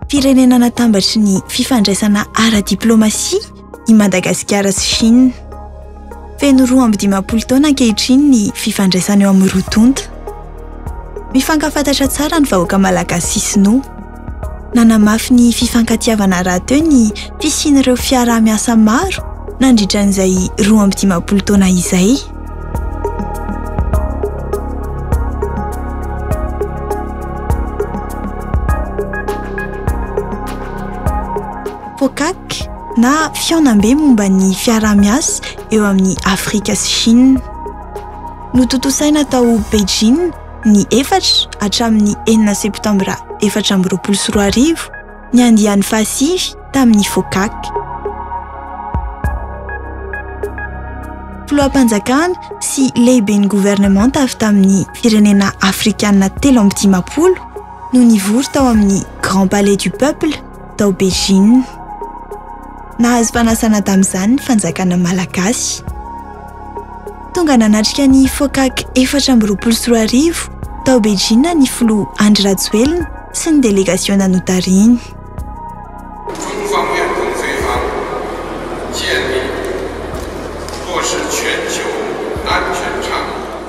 Firenena natambatry ny fifandraisana ara-diplaomasia i Madagasikara sy Chine. Feno roa amby dimampolo taona ankehitriny ny fifandraisana eo amin'ny roa tonta. Mifankafantatra tsara ny vahoaka malagasy sy sinoa. Nanamafy ny fifankatiavana rahateo ny fisian'ireo fiaraha-miasa maro nandritra an'izay roa amby dimampolo taona izay. FOCAC na Fihaonambe momba ny fiaraha-miasa eo amin'i Afrika sy Shina. Notontosaina tao Beijing ny efatra hatramin'ny enina septambra efatra amby roapolo sy roa arivo ny andiany fahasivy tamin'ny FOCAC. Filoham-panjakana sy lehiben'ny governemanta avy tamin'ny firenena afrikana telo amby dimampolo no nivory tao amin'ny Grand Palais du Peuple tao Beijing. Nahazo fanasana tamin'izany ny fanjakana malagasy. Tonga nanatrika ny FOCAC efatra amby roapolo sy roa arivo tao Beijing ny filoha Andry Rajoelina sy ny delegasiona notarihiny.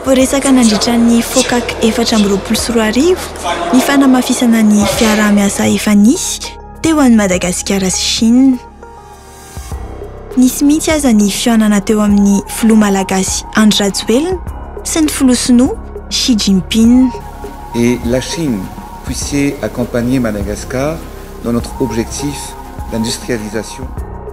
Voaresaka nandritra ny FOCAC efatra amby roapolo sy roa arivo ny fanamafisana ny fiaraha-miasa efa nisy teo an'i Madagasikara sy Chine. Nisy mihitsy aza ny fihaonana teo amin'ny filoha malagasy Andry Rajoelina sy ny filoha sinoa Xi Jinping. Et la Chine puisait accompagner Madagascar dans notre objectif d'industrialisation.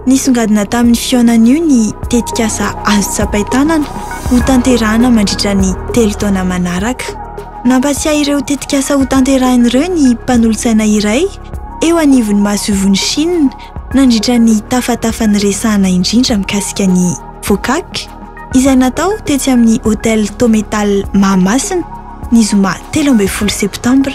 Nisongadina tamin'ny fihaonan'io ny tetikasa Azo tsapain-tanana ho tanterahana mandritra ny telo taona manaraka. Nampatsiahy ireo tetikasa ho tanterahina ireo ny mpanolotsaina iray eo anivon'ny masoivohon'i Shina nandritra ny tafatafa niresahana indrindra mikasika ny Fokak izay natao tetsy amin'ny Hôtel Tometal Mahamasina ny zoma telo ambin'ny folo septambra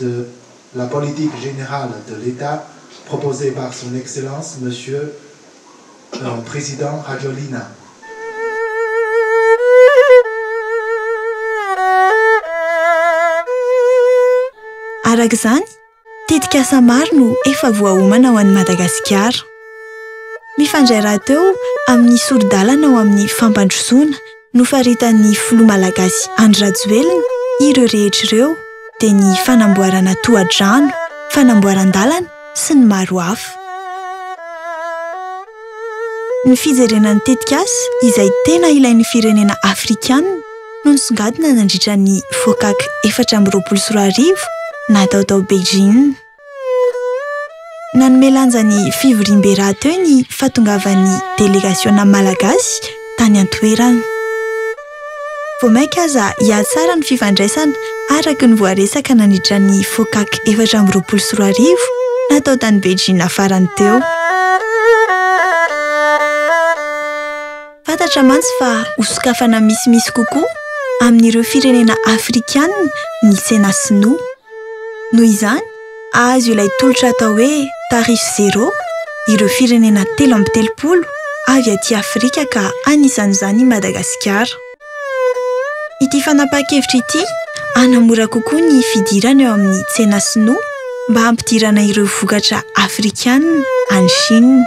de la politique générale de l'Etat proposée par son Excellence Monsieur le Président Rajoelina. Araka izany, tetikasa maro no efa voaomana ho an'i Madagasikara. Mifandray rahateo amin'ny sori-dalana ho amin'ny fampandrosoana, nofaritan'ny filoha malagasy Andry Rajoelina ireo rehetra ireo dia ny fanamboarana tohadrano, fanamboaran-dalana sy ny maro hafa. Ny fijerena ny tetikasa izay tena ilain'ny firenena afrikanina no nisongadina nandritra ny Focac efatra amby roapolo sy roa arivo natao tao Beijing. Nanome lanja ny fivoriambe rahateo ny fahatongavan'ny delegasiona malagasy tany an-toerana. Vao mainka aza hihatsara ny fifandraisana araka ny voaresaka nandritra ny FOCAC efatra amby roapolo sy roa arivo natao tany Beijing farany teo. Fantatra mantsy fa hosokafana misimisy kokoa amin'ireo firenena afrikanina ny tsena sinoa. Noho izany, hahazo ilay tolotra atao hoe Tarify Zero ireo firenena telo amby telopolo avy aty Afrika ka anisan'izany i Madagasikara. Ity fanapahan-kevitra ity hanamora kokoa ny fidirana eo amin'ny tsena sinoa mba hampidirana ireo vokatra afrikana any Chine.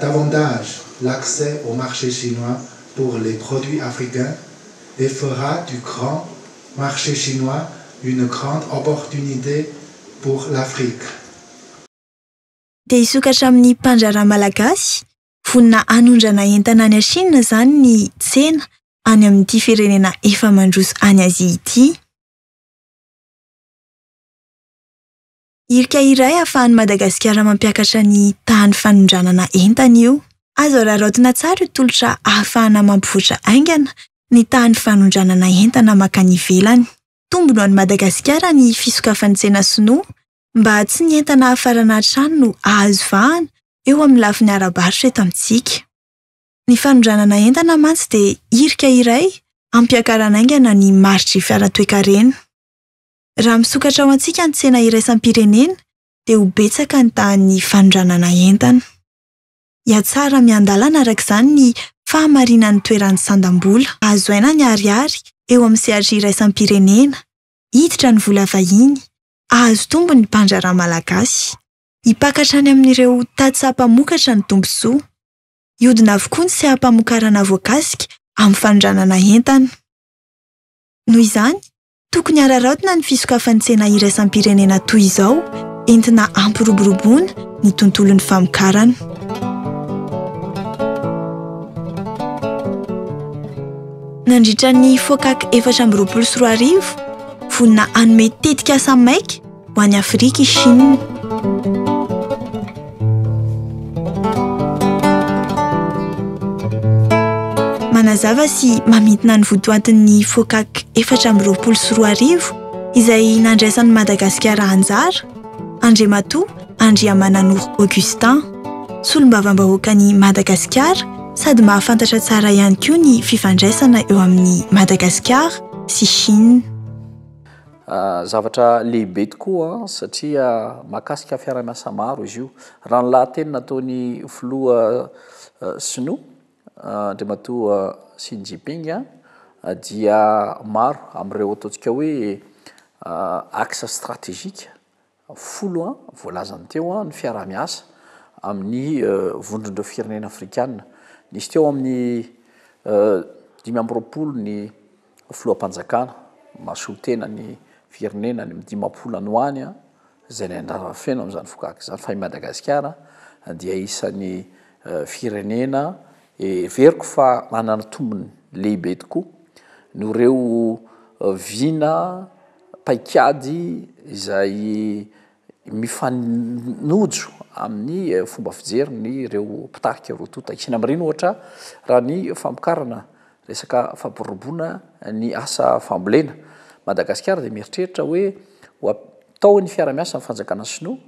Davantage l'accès au marché chinois pour les produits africains et fera du grand marché chinois une grande opportunité pour l'Afrique. Te hisokatra amin'ny mpandraharaha malagasy? Vonona hanondrana entana any Chine izany ny tsena any amin'ity firenena efa mandroso any Azia ity. Hirika iray ahafahan'i Madagasikara mampiakatra ny tahan'ny fanondranana entana io. Azo araraotina tsara io tolotra ahafahana mampivoatra haingana ny tahan'ny fanondranana entana mankany ivelany. Tombony ho an'i Madagasikara ny fisokafan'ny tsena sinoa mba tsy ny entana hafarana hatrany no hahazo vahana eo amin'ny lafiny ara-barotra eto amintsika. Ny fanondranana entana mantsy dia hirika iray hampiakarana haingana ny maritr'i fiara toe-karena. Raha misokatra ho antsika ny tsena iraisam-pirenena dia ho betsaka ny tahan'ny fanondranana entana. Hihatsara miandalana araka izany ny fahamarinan'ny toeran'ny sandam-bola. Azo haina ny ariary eo amin'ny sehatry iraisam-pirenena, hiditra ny vola vahiny, hahazo tombony ny mpandraharaha malagasy. Hipaka hatrany amin'ireo tady saha mpamokatra ny tombontsoa. Hihodina avokoa ny seha-pamokarana voakasika amin'ny fanondranana entana. Noho izany, Tokony hararaotina ny fisokafan'ny tsena iraisam-pirenena toy izao entina hampiroboroboana ny tontolon'ny famokarana. Nandritra ny FOCAC efatra amby roapolo sy roa arivo, vonona hanome tetikasa maika, Ho an'i Afrika i Shina. Manazava sy mamintina ny votoatin'ny FOCAC efatra amby roapolo sy roa arivo izay nandraisan'i Madagasikara anjara, Andriamatoa Andriamananoro Augustin, Solombavambahoakan'i Madagasikara sady mahafantatra tsara ihany koa ny fifandraisana eo amin'i Madagasikara sy Shina. Zavatra lehibe tokoa satria mahakasika fiaraha-miasa maro izy io. Raha ny lahateny nataon'ny filoha sinoa, Andriamatoa Xi Jinping, dia maro amin'ireo ataontsika hoe axe stratégique, folo voalazany teo ny fiaraha-miasa amin'ny vondron'ireo firenena afrikana. Nisy teo amin'ny dimy amby roapolo ny filoham-panjakana mahasolo tena ny firenena any amin'ny dimampolo any ho any izay ny andrarana feno amin'izany fokaka izany fa i Madagasikara dia isan'ny firenena Heveriko fa manana tombony lehibe tokoa noho ireo vina paikady izay mifanojo amin'ny fomba fijerin'ireo mpitarika roa tonta. Asiana amin'ireny ohatra raha ny famokarana resaka fampirobona ny asa fambolena. Madagasikara dia mieritreritra hoe ho ataon'ny fiaraha-miasa ny fanjakana sinoa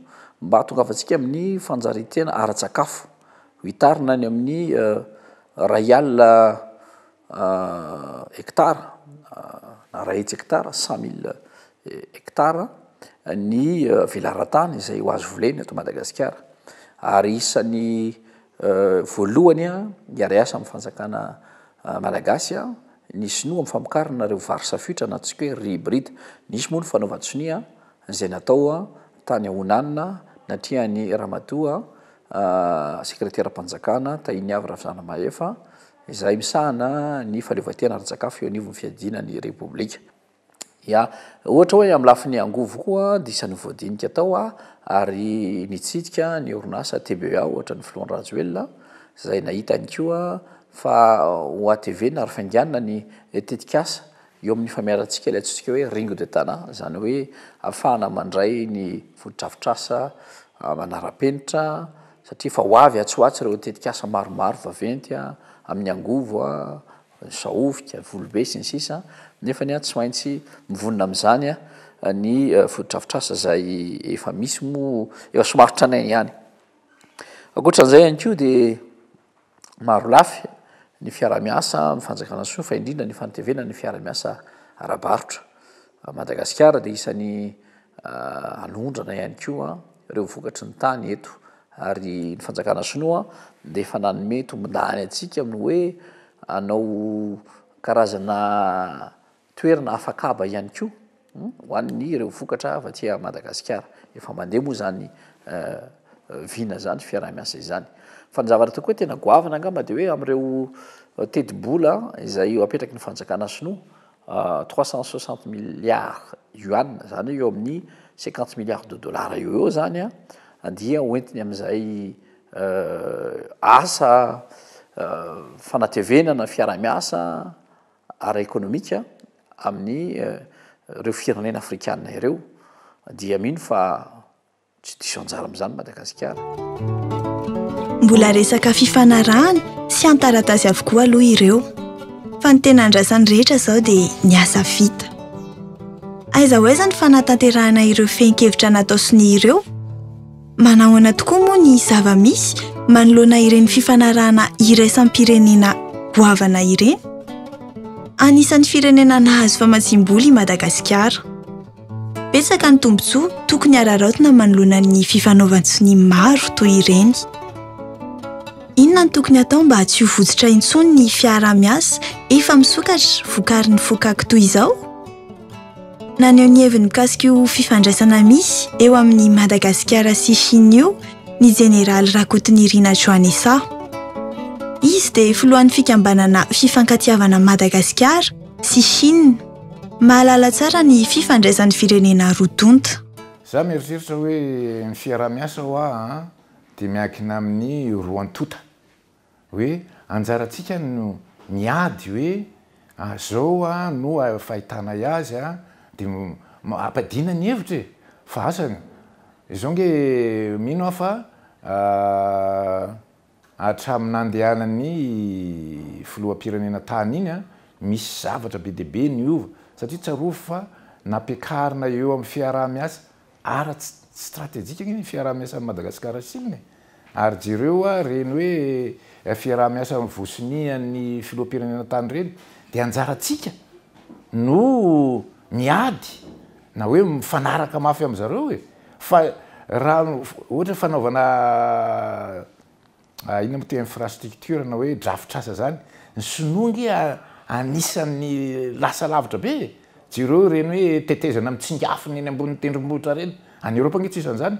mba hahatongavantsika amin'ny fanjarian-tena ara-tsakafo. Mitarina any amin'ny iray alina hekitara na iray hetsy hekitara, cent mille hekitara, ny velaran-tany izay ho azo volena eto Madagasikara. Ary isan'ny voalohany hiara-hiasa amin'ny fanjakana malagasy ny sinoa amin'ny famokarana ireo vary safoitra na antsoiko hoe riz hybride. Nisy moa ny fanaovan-tsonia izay natao tany Honan, natrehan'ny ramatoa. Sekreteram-panjakana, Tahiniavy Ravizanamahefa, izay misahana ny fahaleovantena ara-tsakafo eo anivon'ny fiadiana ny Repoblika. Ya, ohatra hoe amin'ny lafiny angovo koa dia isan'ny voadinika tao ary nitsidika ny orinasa TBEA ohatra ny filoha Rajoelina izay nahita ihany koa fa ho hatevina ary fainganina ny tetikasa Eo amin'ny famiarantsika ilay antsointsika hoe Ringo de Tana, izany hoe ahafahana mandray ny fotodrafitrasa manara-penitra, satria efa ho avy atsy ho atsy ireo tetikasa maromaro vaventy amin'ny angovo, ny sahofika, ny volobe, sy ny sisa Nefa ny ahy tsy maintsy mivonona amin'izany ny fotodrafitrasa izay efa misy moa efa somary tranainy ihany. Ankoatra an'izay ihany koa dia marolafy ny fiarahamiasa amin'ny fanjakana soa fa indrindra ny fanatevena ny fiarahamiasa ara-barotra. Madagasikara dia isan'ny anondrana ihany koa ireo vokatry ny tany eto ary ny fanjakana sinoa dia efa nanome tombondany antsika amin'ny hoe anao karazana Toerana afakaba ihany koa ho an'ny ireo vokatra avy aty Madagasikara. Efa mandeha moa izany vina izany, fiaraha-miasa izany. Fa ny zavatra tokoa tena goavana angamba dia hoe amin'ireo tetibola izay eo apetraky ny fanjakana sinoa, trois cent soixante milliards yuan, izany hoe eo amin'ny cinquante milliards de dollars eo ho eo izany an, dia ho entiny amin'izay asa fanatevenana fiaraha-miasa, ara-ekonomika amin'ny ireo firenena afrikana ireo dia mino fa tsy diso anjara amin'izany Madagasikara. Mbola resaka fifanarahana sy an-taratasy avokoa aloha ireo fa ny tena andrasan'ny rehetra izao dia ny asa vita. Aiza ho aiza ny fanatanterahana ireo fehin-kevitra natao sonia ireo? Manahoana tokoa moa ny zava-misy manoloana ireny fifanarahana iraisam-pirenena goavana ireny? Anisan'ny firenena nahazo famatsiam-bola i Madagasikara. Betsaka ny tombontsoa tokony hararaotina manoloana ny fifanaovan-tsonia maro toy ireny. Inona no tokony hatao mba tsy ho votsotra intsony ny fiaraha-miasa efa misokatra vokarin'ny fokak toy izao? Naneho ny heviny mikasika io fifandraisana misy eo amin'i Madagasikara sy Shina io ny Jeneraly Rakotonirina Joanessa. Izy dia filohan'ny fikambanana Fifankatiavana Madagasikara sy Shina. Mahalala tsara ny fifandraisan'ny firenena roa tonta. Za mieritreritra hoe ny fiaraha-miasa hoa dia miankina amin'ny roa tonta. Hoe anjarantsika no miady hoe azao aho no fahitana azy a! de ampiadiana ny hevitra e! fa asa izao nge mino aho fa hatramin'ny nandehanan'ny filoham-pirenena tany iny a! misy zavatra be dia be niova satria tsarovy fa nampiakarina eo amin'ny fiaraha-miasa Ara stratejika anie ny fiaraha-miasan'i Madagasikara Chine e! Ary jereo ary ireny hoe fiaraha-miasa vosonian'ny filoham-pirenena tany ireny dia anjarantsika no miady na hoe mifanaraka mafy amin'izareo e! Fa raha ohatra fanaovana Inona moa ty infrastructure na hoe drafitr'asa zany? Ny sinoa ange anisan'ny lasa lavitra be e! Jereo ireny hoe tetezana mitsingafina eny ambonin'ny tendrombohitra ireny. Any Eoropa ange tsy isan'ny zany.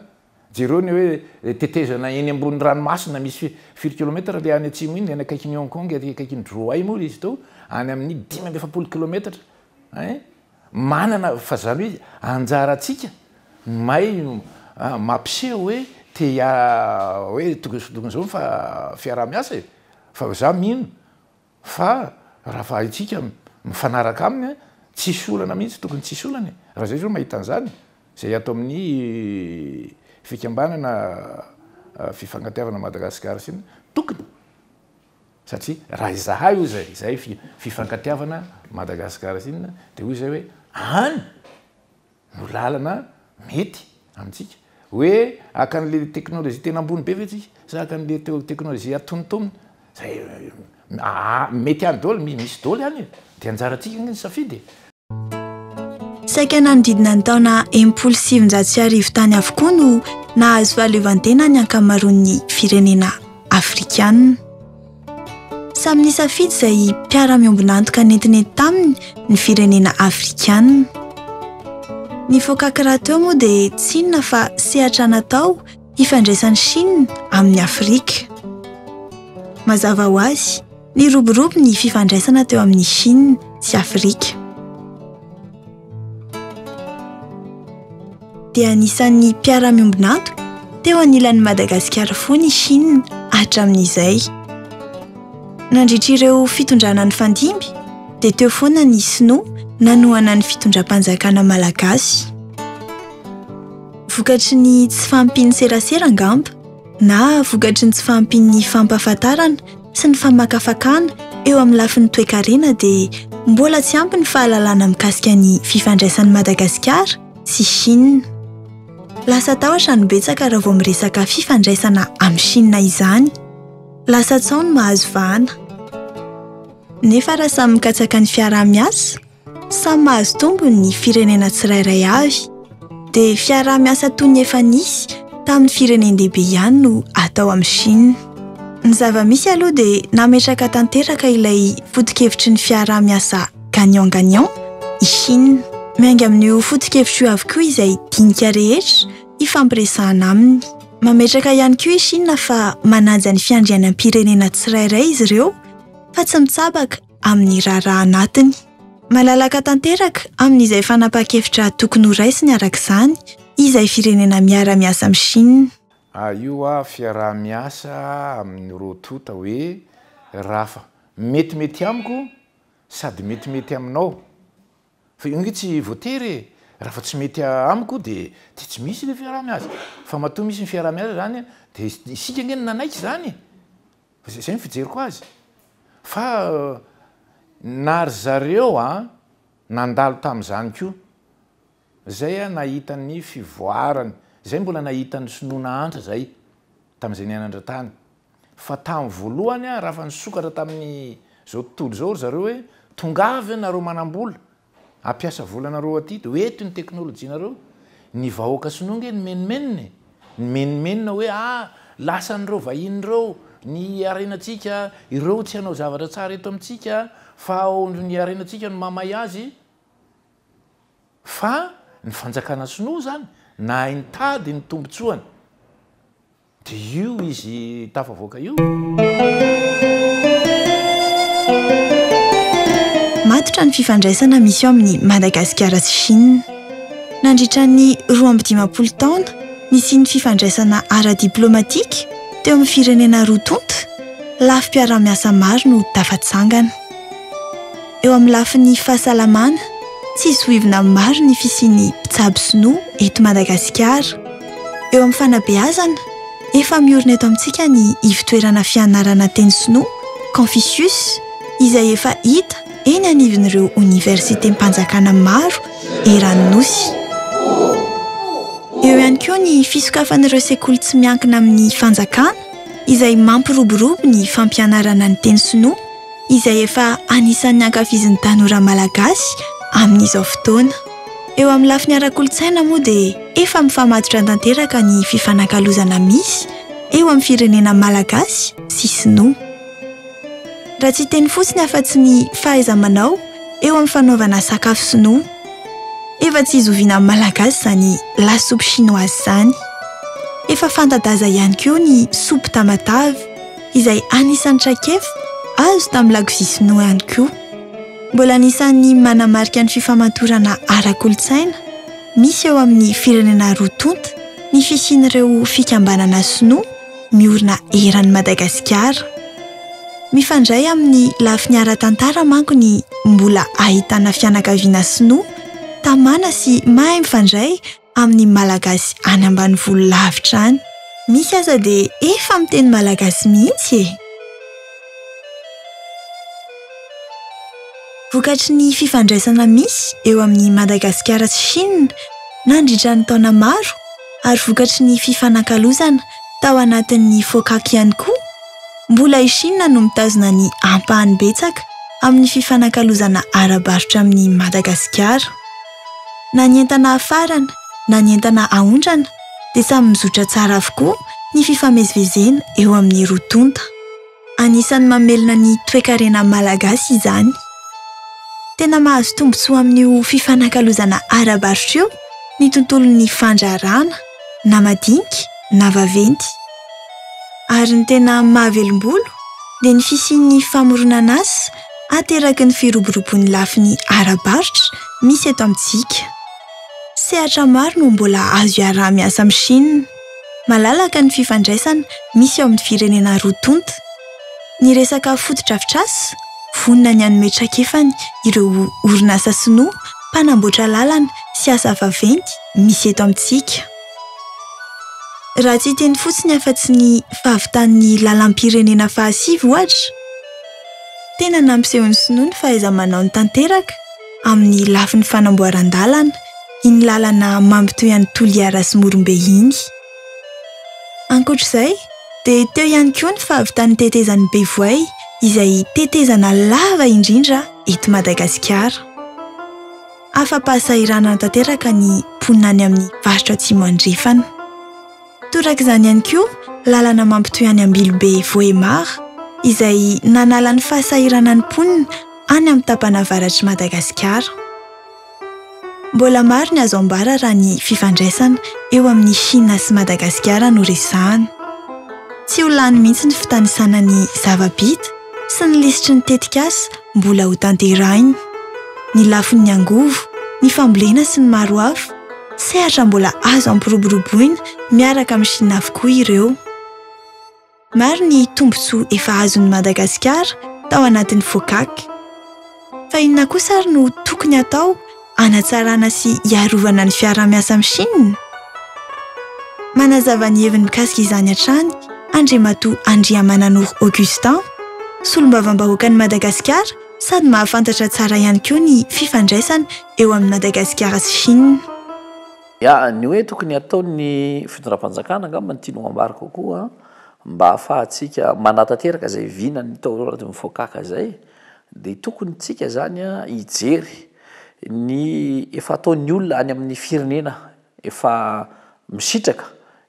Jereo ny hoe tetezana eny ambonin'ny ranomasina misy firy kilometatra le any atsimo iny, any akaikin'i Hong Kong, aty akaikin'i Droi moa izy itao, any amin'ny dimy amby efapolo kilometatra ein! Manana fa zany hoe anjarantsika ny may no mampiseho hoe te hoe tokony zao tokony zao ny fiaraha-miasa e! fa za mino fa raha fahaitsika mifanaraka aminy tsisy olana mihitsy tokony tsisy olana e! raha zay zao mahita an'zany zay ato amin'ny fikambanana fifankatiavana Madagascar sina tokony Satria raha izahay hoy izay, izay fifankatiavana Madagascar sy inona dia hoy izay hoe any no lalana mety amintsika. Hoe haka anle teknolojia tena ambony be ve tsika sa haka anle teknolojia atonontonony izay mety any daholo, misy daholo any e! Dia anjaratsika anie ny safidy e! Saika nanodidina ny taona enimpolo sy sivinjato sy arivo tany avokoa no nahazo fahaleovantena ny ankamaroan'ny firenena afrikanina. Samy nisafidy izay mpiara-miombon'antoka nentinenty taminy ny firenena afrikanina. Ny voakaka rahateo moa dia tsy inona fa sehatra natao hifandraisan'i Shina amin'i Afrika. Mazava ho azy, Niroborobo ny fifandraisana teo amin'i Chine sy Afrika. Dia anisan'ny mpiara-miombon'antoka teo anilan'i Madagasikara foana i Chine hatramin'izay. Nandritra ireo fitondrana nifandimby dia teo foana ny Sinoa nanohana ny fitondram-panjakana malagasy. Vokatry ny tsy fahampian'ny serasera angamba na vokatry ny tsy fahampian'ny fampahafantarana sy ny famakafakana eo amin'ny lafiny toekarena dia mbola tsy ampy ny fahalalana mikasika ny fifandraisan'i Madagasikara sy Chine. Lasa tahotra no betsaka raha vao miresaka fifandraisana amin'i Chine izany. Lasa tsaho ny mahazo vahana. Nefa raha samy mikatsaka ny fiaraha-miasa, Samy mahazo tombony ny firenena tsirairay avy, dia fiaraha-miasa toy ny efa nisy tamin'ny firenen-dehibe ihany no atao amin'i Shina. Ny zava-misy aloha dia nametraka tanteraka ilay foto-kevitry ny fiaraha-miasa gagnant-gagnant i Shina. Miainga amin'io foto-kevitra io avokoa izay dinika rehetra hifampiresahana aminy. Mametraka ihany koa i Shina fa manaja ny fiandrianam-pirenena tsirairay izy ireo fa tsy mitsabaka, amin'ny raharaha anatiny. Malalaka tanteraka amin'izay fanapahan-kevitra tokony ho raisiny araka izany izay firenena miara-miasa amin'i Shina. A Io fiaraha-miasa amin'ny roa tonta hoe Rafa. Metimety amiko sady metimety aminao. Fa io ange tsy voatery e! Raha fa tsy mety amiko dia dia tsy misy ilay fiaraha-miasa. Fa matoa misy ny fiaraha-miasa izany dia isika ange no nanaiky izany e! Fa izay izay ny fijeriko azy. Fa na ry zareo nandalo tamin'izany koa, izay nahita ny fivoarany, izay mbola nahita ny sinoa nahantra izay tamin'izay niainany rahatany. Fa tamin'ny voalohany aho raha fa nisokatra tamin'izao tontolo izao ry zareo hoe tongava eo nareo manam-bola hampiasa volanareo aty dia ho eto ny teknolojianareo, ny vahoaka sinoa nge nimenomenona e, nimenomenona hoe ah lasan'ireo vahiny ireo ny harenantsika, ireo tsy hanao zavatra tsara eto amintsika fa ny harenantsika no mahamay azy, fa ny fanjakana sinoa izany nahay nitady ny tombotsoany. Dia io izy tafavoaka io. Matotra ny fifandraisana misy eo amin'i Madagasikara sy Chine. Nandritra ny roa amby dimampolo taona nisian'ny fifandraisana ara-diplaomatika teo amin'ny firenena roa tonta, lafim-piaraha-miasa maro no tafatsangana. Eo amin'ny lafiny fahasalamana, tsy zohivina maro ny fisian'ny mpitsabo sinoa eto Madagasikara. Eo amin'ny fanabeazana, efa miorina eto amintsika ny ivotoerana fianarana teny sinoa, Confucius, izay efa hita eny anivon'ireo oniversitem-panjakana maro eran'ny Nosy. Eo ihany koa ny fisokafan'ireo sekoly tsy miankina amin'ny fanjakana izay mampiroborobo ny fampianarana ny teny sinoa izay efa anisan'ny ankafizin'ny tanora malagasy amin'izao fotoana. Eo amin'ny lafiny ara-kolontsaina moa dia efa mifamatotra tanteraka ny fifanakalozana misy eo amin'ny firenena malagasy sy sinoa. Raha tsy hiteny fotsiny afa-tsy ny fahaiza-manao eo amin'ny fanaovana sakafo sinoa. Efa tsy zoviana amin'ny malagasy izany la soupe chinoise izany. Efa fanta-daza ihany koa ny soupe tamatave izay anisan'ny traikefa azo tamin'ny lakozia sinoa ihany koa. Mbola anisan'ny manamarika ny fifamatorana ara-kolontsaina misy eo amin'ny firenena roa tonta ny fisian'ireo fikambanana sinoa miorina eran'i Madagasikara. Mifandray amin'ny lafiny ara-tantara manko ny mbola ahitana fianakaviana sinoa tamana sy mahay mifandray amin'ny Malagasy any ambanivolo lavitra any. Misy aza dia efa miteny Malagasy mihitsy e! Vokatry ny fifandraisana misy eo amin'i Madagasikara sy Chine nandritra ny taona maro ary vokatry ny fifanakalozana tao anatin'ny Focac ihany koa, mbola i Chine no mitazona ny ampahany betsaka amin'ny fifanakalozana ara-barotra amin'i Madagasikara. Na ny entana afarana na ny entana aondrana dia samy mizotra tsara avokoa ny fifamezivezena eo amin'ny roa tonta. Anisan'ny mamelona ny toekarena malagasy izany. Tena mahazo tombontsoa amin'io fifanakalozana ara-barotra io ny tontolon'ny fandraharahana, na madinika na vaventy. Ary ny tena mahavelombolo dia ny fisian'ny famoronan'asa ateraky ny firoborobon'ny lafiny ara-barotra misy eto amintsika. Sehatra maro no mbola azo iaraha-miasa amin'i Shina. Malalaka ny fifandraisana misy eo amin'ny firenena roa tonta. Ny resaka fotodrafitrasa, vonona ny hanome traikefany ireo orinasa sinoa mpanamboatra lalana sy asa vaventy misy eto amintsika. Raha tsy hiteny fotsiny afa-tsy ny fahavitan'ny lalam-pirenena fahasivy, ohatra, tena nampisehoan'ny sinoa ny fahaiza-manaony tanteraka amin'ny lafiny fanamboaran-dalana iny lalana mampitohy an'i Toliara sy Morombe iny. Ankoatra izay dia teo ihany koa ny fahavitan'ny tetezan'i Bevoay izay tetezana lava indrindra eto Madagasikara. Afa-pahasahiranana tanteraka ny mponina any amin'ny faritra Atsimo Andrefana. Torak'izany ihany koa lalana mampitohy any Ambilobe Vohemar izay nanala ny fahasahiranan'ny mponina any amin'ny tapany avaratr'i Madagasikara. Mbola maro ny azo ambara raha ny fifandraisana eo amin'i Shina sy Madagasikara no resahana. Tsy ho lany mihitsy ny fitanisana ny zava-bita sy ny lisitry ny tetikasa mbola ho tanterahina. Ny lafin'ny angovo, ny fambolena sy ny maro hafa, sehatra mbola azo ampiroboroboina miaraka amin'i Shina avokoa ireo. Maro ny tombontsoa efa azon'i Madagasikara tao anatin'ny FOCAC. Fa inona kosa ary no tokony hatao? hanatsarana sy hiarovana ny fiaraha-miasa amin'i Shina? Manazava ny heviny mikasika izany hatrany Andriamatoa Andriamananoro Augustin, Solombavambahoakan'i Madagasikara sady mahafantatra tsara ihany koa ny fifandraisana eo amin'i Madagasikara sy Shina. Ya, ny hoe tokony hataon'ny fitondram-panjakana angamba ny tianao ambara kokoa mba hahafahantsika manatanteraka izay vinan'ny taolo anaty mifokaka izay dia tokony tsika izany hijery Ny efa ataon'ny olona any amin'ny firenena efa misitraka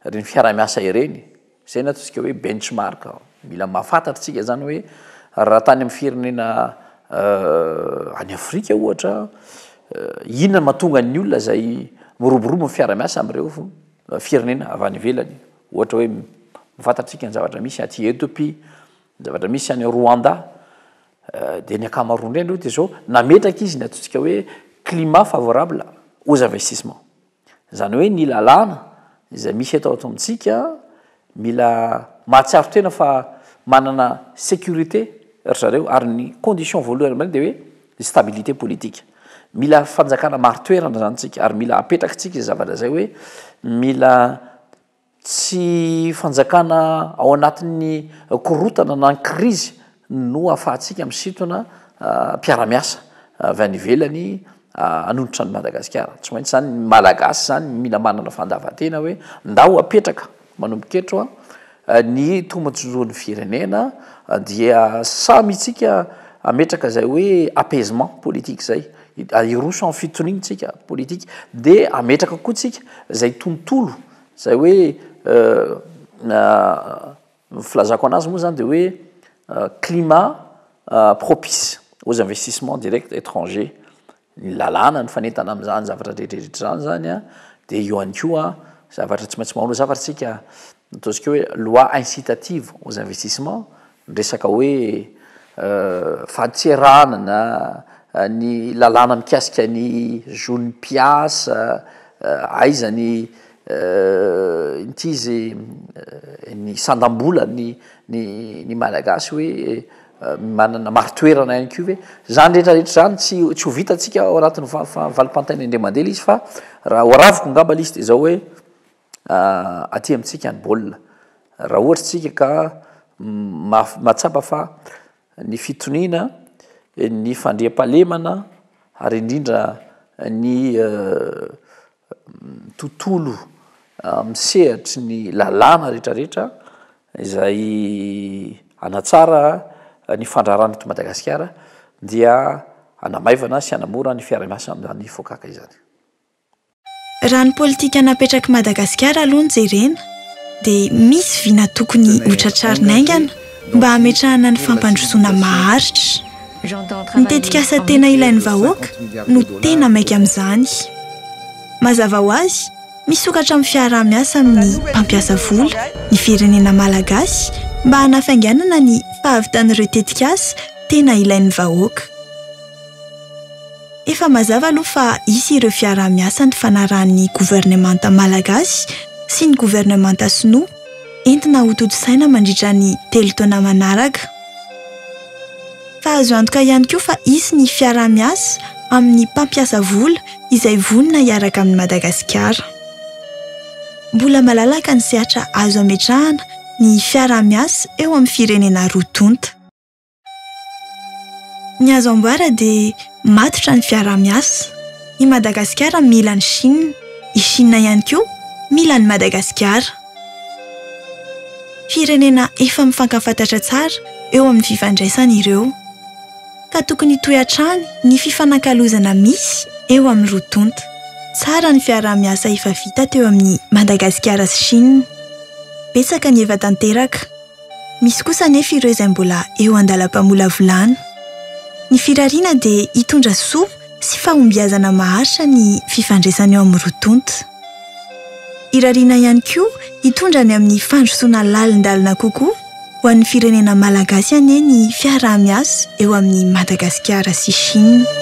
ireny fiaraha-miasa ireny, izay no ataontsika hoe benchmark, mila mahafantatra isika izany hoe raha tany amin'ny firenena any Afrika ohatra, inona no mahatonga ny olona izay miroborobo amin'ny fiaraha-miasa amin'ireo firenena avy any ivelany, ohatra hoe, fantatsika ny zavatra misy aty Ethiopie. Ny zavatra misy any Rwanda dia ny ankamaroany indray aloha dia izao, nametraka izy ny ataontsika hoe climat favorable aux investissements. Izany hoe ny lalàna izay misy eto ato amintsika mila mahatsiaro tena fa manana sécurité ry zareo ary ny condition voalohany amin'ireny dia hoe ny stabilité politique. Mila fanjakana marin-toerana izany isika ary mila apetrakitsika izay zavatra izay hoe mila Tsy fanjakana ao anatin'ny korontana na ny krizy no ahafahantsika misintona mpiara-miasa avy any ivelany hanonitra an'i Madagasikara. Tsy maintsy izany ny Malagasy izany mila manana fandavan-tena hoe ndao apetraka manomboka eto ny tombotsoan'ny firenena dia samy isika hametraka izay hoe apaisement politique izay. Hiroso amin'ny fitoriana tsika politika dia hametraka koa tsika izay tontolo izay hoe ny filazako anazy moa zany dia hoe climat propice aux investissements directs étrangers, ny lalàna ny fanentana amin'izany zavatra rehetrarehetra izany zany an, dia eo ihany koa zavatra tsy maintsy manao zavatra tsika. ny ataontsika hoe loi incitative aux investissements, ny resaka hoe fadintserana na ny lalàna mikasika ny zon'ny mpiasa, aiza ny inty izy ny sandam-bolan'ny ny ny Malagasy hoe manana marin-toerana ihany koa ve, izany rehetrarehetra izany tsy tsy ho vitantsika ao anatin'ny vali-pantaina indray mandeha ilay izy fa raha ho araviko angamba ilay izy dia izao hoe aty amintsika ny baolina. Raha ohatra isika ka mahatsapa fa ny fitoniana, ny fandriampahalemana ary indrindra ny tontolo amin'ny sehatry ny lalàna rehetrarehetra izay hanatsara ny fandraharana eto Madagasikara dia hanamaivana sy hanamora ny fiaraha-miasa amin'izany fokaka izany. Raha ny politika napetrak'i Madagasikara aloha no jerena dia misy vina tokony ho tratrarina haingana mba hametrahana ny fampandrosoana maharitra. Ny tetikasa tena ilain'ny vahoaka no tena maika amin'izany. Mazava ho azy, misokatra amin'ny fiaraha-miasa amin'ny mpampiasa vola ny firenena malagasy mba hanafainganana ny fahavitan'ireo tetikasa tena ilain'ny vahoaka. Efa mazava aloha fa hisy ireo fiaraha-miasa nifanarahan'ny governemanta malagasy sy ny governemanta sinoa entina hotontosaina mandritra ny telo taona manaraka. Fa azo antoka ihany koa fa hisy ny fiaraha-miasa amin'ny mpampiasa vola izay vonona hiaraka amin'i Madagasikara. Mbola malalaka ny sehatra azo ametrahana ny fiaraha-miasa eo amin'ny firenena roa tonta. Ny azo ambara dia matotra ny fiaraha-miasa. I Madagasikara mila an'i Shina, i Shina ihany koa mila an'i Madagasikara. Firenena efa mifankafantatra tsara eo amin'ny fifandraisana ireo, ka tokony hitohy hatrany ny fifanakalozana misy eo amin'ny roa tonta. Tsara ny fiaraha-miasa efa vita teo amin'i Madagasikara sy Shina. Betsaka ny efa tanteraka. Misy kosa anefa ireo izay mbola eo an-dalam-pamolavolana. Ny firariana dia hitondra soa sy fahombiazana maharitra ny fifandraisana eo amin'ny roa tonta. Irariana ihany koa hitondra any amin'ny fandrosoana lalindalina kokoa ho an'ny firenena malagasy anie ny fiaraha-miasa eo amin'i Madagasikara sy Chine.